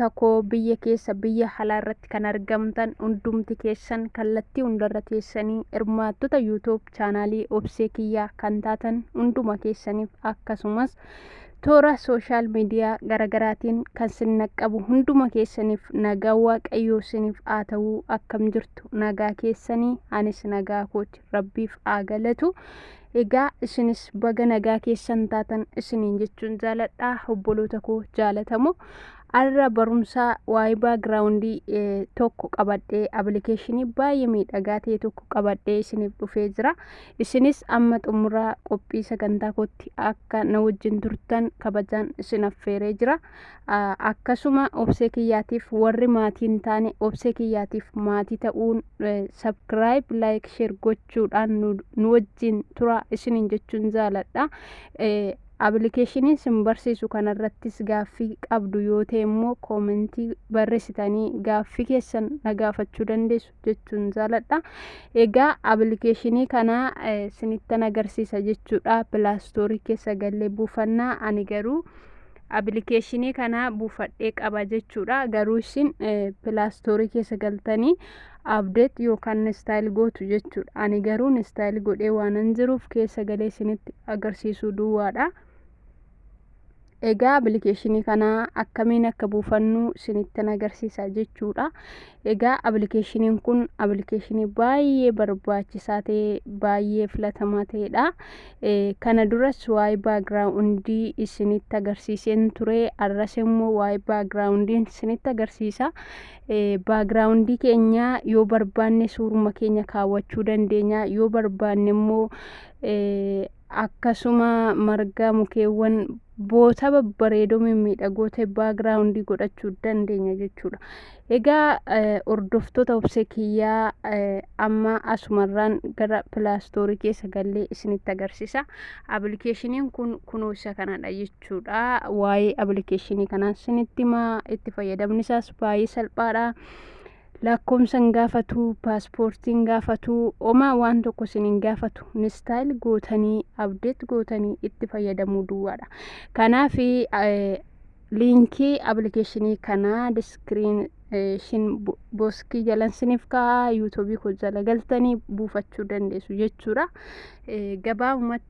takoo biyya keessa biyya halaa irratti kan argamtan hundumti keessan kallattii hundarra teessanii hirmaattota YouTube chaanaalii obsee kiyyaa kan taatan hunduma keessaniif akkasumas toora sooshaal miidiyaa garagaraatiin kan sin naqqabu hunduma keessaniif nagaa waaqayyoo siniif haa ta'uu akkam jirtu nagaa keessanii anis nagaa kooti rabbiif haa galatu Egaa isinis baga nagaa keessan taatan isiniin jechuun jaaladha obboloota koo jaalatamoo. Arra barumsaa waa'ee baagiraawundii tokko qabadhee abilikeeshinii baay'ee miidhagaa ta'e tokko qabadhee isiniif dhufee jira. Isinis amma xumura qophii sagantaa kootti akka na wajjin turtan kabajaan isin affeeree jira. Akkasuma obsee kiyyaatiif warri maatiin taane obsee kiyyaatiif maatii ta'uun sabkiraayib laayik sheer gocha. jechuudhaan nu, nu wajjin tura isiniin jechuun jaaladha. Eh, Appilikeeshinii sin barsiisu kanarrattis gaaffii qabdu yoo ta'e immoo koomentii barreessitanii gaaffii keessan na gaafachuu dandeessu jechuun jaaladha. Egaa appilikeeshinii kana eh, sinittan agarsiisa jechuudha. Pilaastoorii keessa gallee buufanna ani garuu appilikeeshinii kana buufadhee qaba jechuudha. Garuu isin eh, pilaastoorii keessa galtanii update yookaan install gootu jechuudha. Ani garuu install godhee waanan jiruuf keessa galee isinitti agarsiisuu duwwaadha. Egaa appilikeeshinii kana akkamiin akka buufannu isinittin agarsiisa jechuudha. Egaa appilikeeshiniin kun appilikeeshinii baay'ee barbaachisaa ta'e baay'ee filatamaa ta'edha. Kana duras waa'ee baagiraawundii isinitti agarsiiseen ture. Arras immoo waa'ee baagiraawundiin isinitti agarsiisa. baagiraawundii keenya yoo barbaanne suuruma keenya kaawwachuu dandeenya yoo barbaanne immoo akkasuma marga mukeewwan boota babbareedoo mimmiidhagoo ta'e baagiraawundii godhachuu dandeenya jechuudha. Egaa hordoftoota obsee kiyyaa amma asumarraan gara pilaastoorii keessa gallee isinitti agarsiisa. Appilikeeshiniin kun kunoo isa kanadha jechuudha. jechuudha. Waa'ee appilikeeshinii kanaan sinitti himaa itti fayyadamni isaas baay'ee salphaadha. Lakkoomsa hin gaafatu, paaspoortii hin gaafatu, homaa waan tokko isin hin gaafatu. Instaayil gootanii, abdeet gootanii itti fayyadamuu duwwaadha. Kanaaf liinkii appilikeeshinii kanaa diskiriin shin boskii jalan siniif kaa'aa yuutuubii koo jala galtanii buufachuu dandeessu jechuudha. Gabaabumatti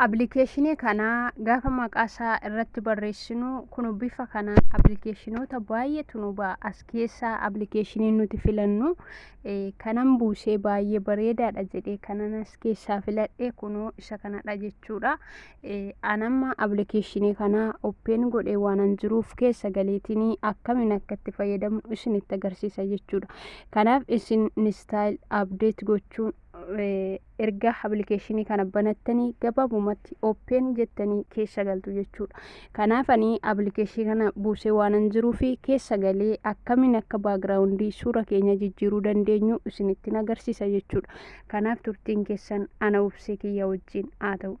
Appilikeeshinii kana gaafa maqaa isaa irratti barreessinu kun bifa kanaan appilikeeshinoota baay'eetu nu ba'a. As keessaa appilikeeshiniin nuti filannu kanan buusee baay'ee bareedaadha jedhee kanan as keessaa filadhe kunoo isa kanadha jechuudha. Anamma appilikeeshinii kana oppeen godhee waanan jiruuf keessa galeetiin akkamiin akka itti fayyadamnu isinitti agarsiisa jechuudha. Kanaaf isin istaayil abdeet gochuun Erga application kana banattanii gabaabumatti open jettanii keessa galtu jechuudha. Kanaaf ani application kana buusee waanan jiruuf keessa galee akkamiin akka background suura keenya jijjiiruu dandeenyu isinittin agarsiisa jechuudha. Kanaaf turtiin keessan ana obsee kiyya wajjin haa ta'u.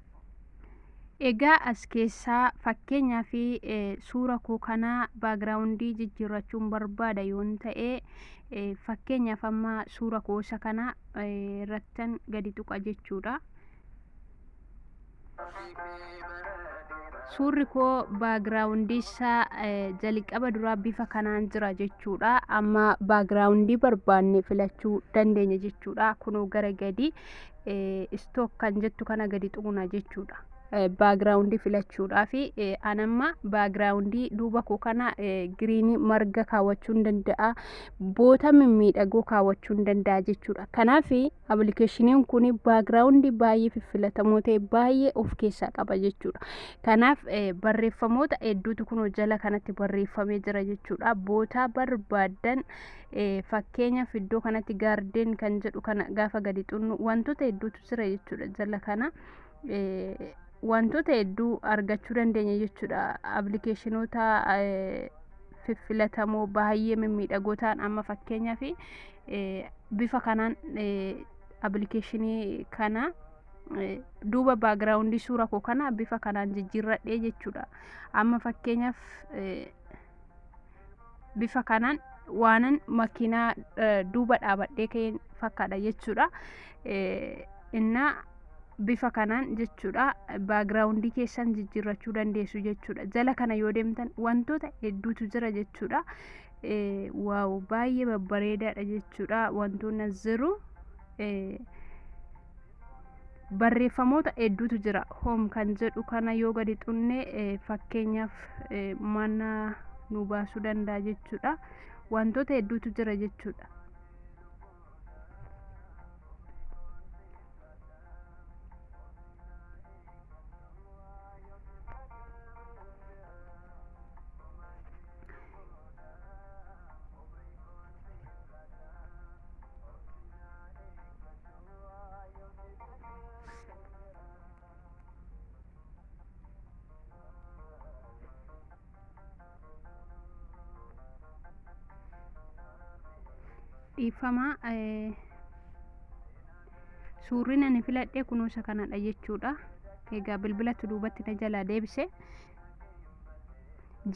Egaa as keessaa fakkeenyaa fi suura koo kana baagiraawundii jijjiirrachuun barbaada yoon ta'e fakkeenyaaf amma suura koo isa kana irrattan gadi tuqa jechuudha. Suurri koo baagiraawundii isaa jalqaba duraa bifa kanaan jira jechuudha. Amma baagiraawundii barbaanne filachuu dandeenya jechuudha. Kunoo gara gadi istook kan jettu kana gadi xuqna jechuudha. baagiraawundii filachuudhaa fi anamma baagiraawundii duuba koo kana giriinii marga kaawwachuun danda'a boota mimmiidhagoo kaawwachuun danda'a jechuudha kanaaf appilikeeshiniin kun baagiraawundii baay'ee fiffilatamoo ta'e baay'ee of keessaa qaba jechuudha kanaaf barreeffamoota hedduutu kun jala kanatti barreeffamee jira jechuudha boota barbaadan fakkeenyaaf iddoo kanatti gaardeen kan jedhu kana gaafa gadi xunnu wantoota hedduutu jira jechuudha jala kana wantoota hedduu argachuu dandeenya jechuudha appilikeeshinoota fiffilatamoo baay'ee mimmiidhagoo ta'an amma fakkeenyaaf bifa kanaan appilikeeshinii kana duuba baagiraawundii suura koo kana bifa kanaan jijjiirradhee jechuudha amma fakkeenyaaf bifa kanaan waanan makiinaa duuba dhaabadhee ka'een fakkaadha jechuudha. Innaa bifa kanaan jechuudha baagiraawundii keessan jijjiirrachuu dandeessu jechuudha. Jala kana yoo deemtan wantoota hedduutu jira jechuudha. Waaw baay'ee babbareedaadha jechuudha wantoonni as jiru. barreeffamoota hedduutu jira home kan jedhu kana yoo gadi xunne fakkeenyaaf mana nu baasuu danda'a jechuudha wantoota hedduutu jira jechuudha dhiiffamaa suurri nani filadhe kunuusa kanadha jechuudha egaa bilbilatu duubatti na jalaa deebise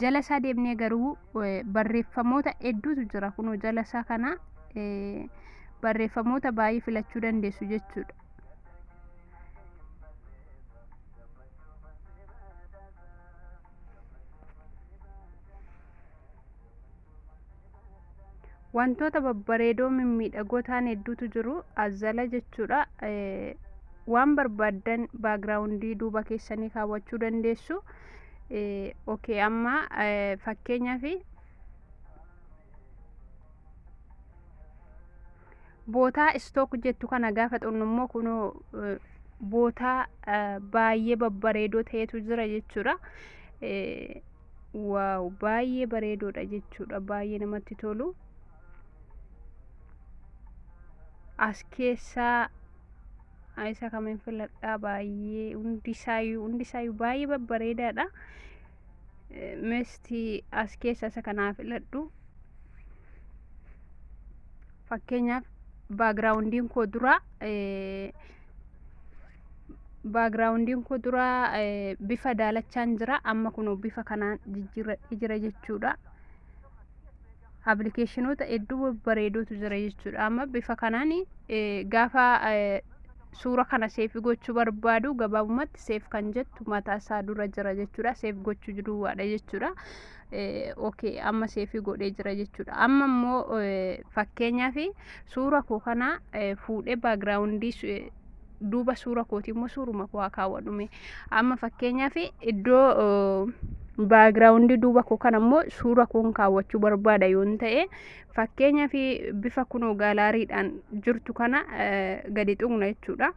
jala isaa deemnee garuu barreeffamoota hedduutu jira kunoo jala isaa kana barreeffamoota baay'ee filachuu dandeessu jechuudha. wantoota babbareedoo mimmiidhagoo ta'an hedduutu jiru azala jechuudha waan barbaaddan baagiraawundii duuba keessanii kaawwachuu dandeessu okay amma fakkeenyaaf bootaa istook jettu kana gaafa xunnu immoo kunoo bootaa baay'ee babbareedoo ta'etu jira jechuudha. Waaw baay'ee bareedoodha jechuudha baay'ee namatti tolu as keessaa ah, isa kamin filadhaa baay'ee hundisaayyuu hundisaayyuu baay'ee babbareedaadha Eh, misti as keessa isa kanaa filadhu fakkeenyaaf baagiraawundiin koo duraa eh, baagiraawundiin koo dura bifa daalachaan jira amma kunoo bifa kanaan jijjiirradhee jira jechuudha appilikeeshinoota hedduu bareeduutu jira jechuudha amma bifa kanaan gaafa suura kana seef gochuu barbaadu gabaabumatti seef kan jettu mataa isaa dura jira jechuudha seef gochuu duwwaadha jechuudha okay amma seef godhee jira jechuudha amma immoo fakkeenyaaf suura koo kana fuudhee baagiraawundii duuba suura kooti immoo suuruma koo haa kaawwadhume amma fakkeenyaaf iddoo baagiraawundii duuba koo kana immoo suura koon kaawwachuu barbaada yoon ta'e fakkeenyaaf bifa kunoo gaalaariidhaan jirtu kana gadi tuqna jechuudha.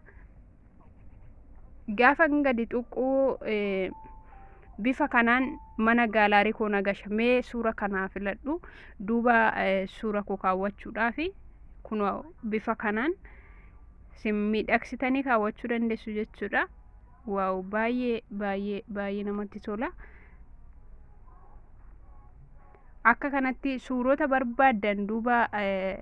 Gaafa gadi tuquu bifa kanaan mana gaalaarii koo nagasha mee suura kanaa filadhu duuba suura koo kaawwachuudhaafi kunoo bifa kanaan. isin miidhagsitanii kaawwachuu dandeessu jechuudha waaw baay'ee baay'ee baay'ee namatti tola akka kanatti suurota barbaaddan duuba eh,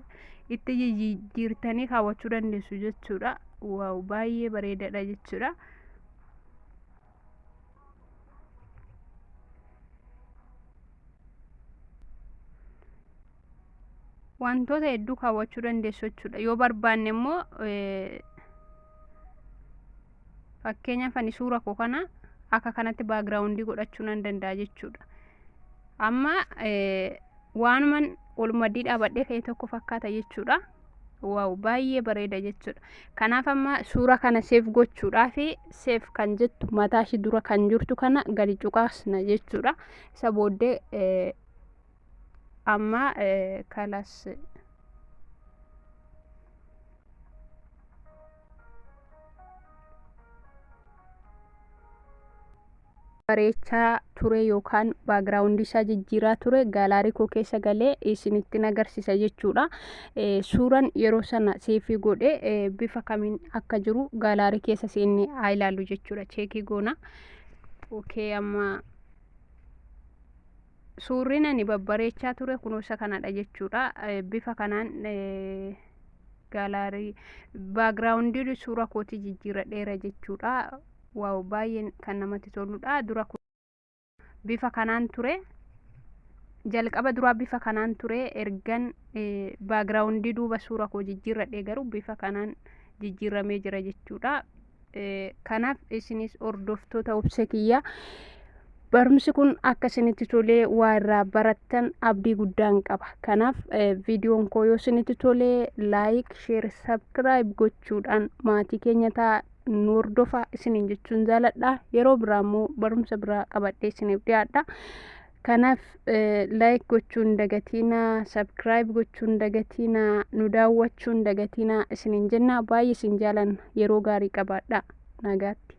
itti jijjiirtanii kaawwachuu dandeessu jechuudha waaw baay'ee bareedaadha jechuudha wantoota hedduu kaawwachuu dandeessu jechuudha yoo barbaanne immoo fakkeenyaaf ani suura koo kana akka kanatti baagiraawundii godhachuu nan danda'a jechuudha amma waanuman ol maddii dhaabadhee ka'e tokko fakkaata jechuudha waaw baay'ee bareeda jechuudha kanaaf amma suura kana seef gochuudhaaf seef kan jettu mataa ishii dura kan jirtu kana gadi cuqaasna jechuudha isa booddee eh, amma eh, kalas bareechaa ture yookaan background isaa jijjiiraa ture gaalaarii koo keessa galee isinittin agarsiisa jechuudha. Suuraan yeroo sana seefii godhe bifa kamiin akka jiru gaalaarii keessa seenne haa ilaallu jechuudha. Cheekii goona. Okay amma suurri ani babbareechaa ture kunoo isa kanadha jechuudha. Bifa kanaan gaalaarii background suura kootii jijjiiradheera jechuudha. Waaw baay'een kan namatti toludha. Dura kun bifa kanaan ture. Jalqaba duraa bifa kanaan ture ergan baagiraawundii duuba suura koo jijjiirradhe garuu bifa kanaan jijjiirramee jira jechuudha. Kanaaf isinis hordoftoota obse kiyya barumsi kun akka isinitti tolee waa irraa barattan abdii guddaan qaba. Kanaaf viidiyoon koo yoo isinitti tolee laayik, sheer, sabskiraayib gochuudhaan maatii keenya ta'a. nu hordofaa isiniin jechuun jaaladha yeroo biraa immoo barumsa biraa qabadhee isiniif dhiyaadha kanaaf laayik gochuun dagatiina sabkiraayib gochuun dagatiina nu daawwachuun dagatiina isiniin jenna baay'ee isin jaalanna yeroo gaarii qabaadha nagaatti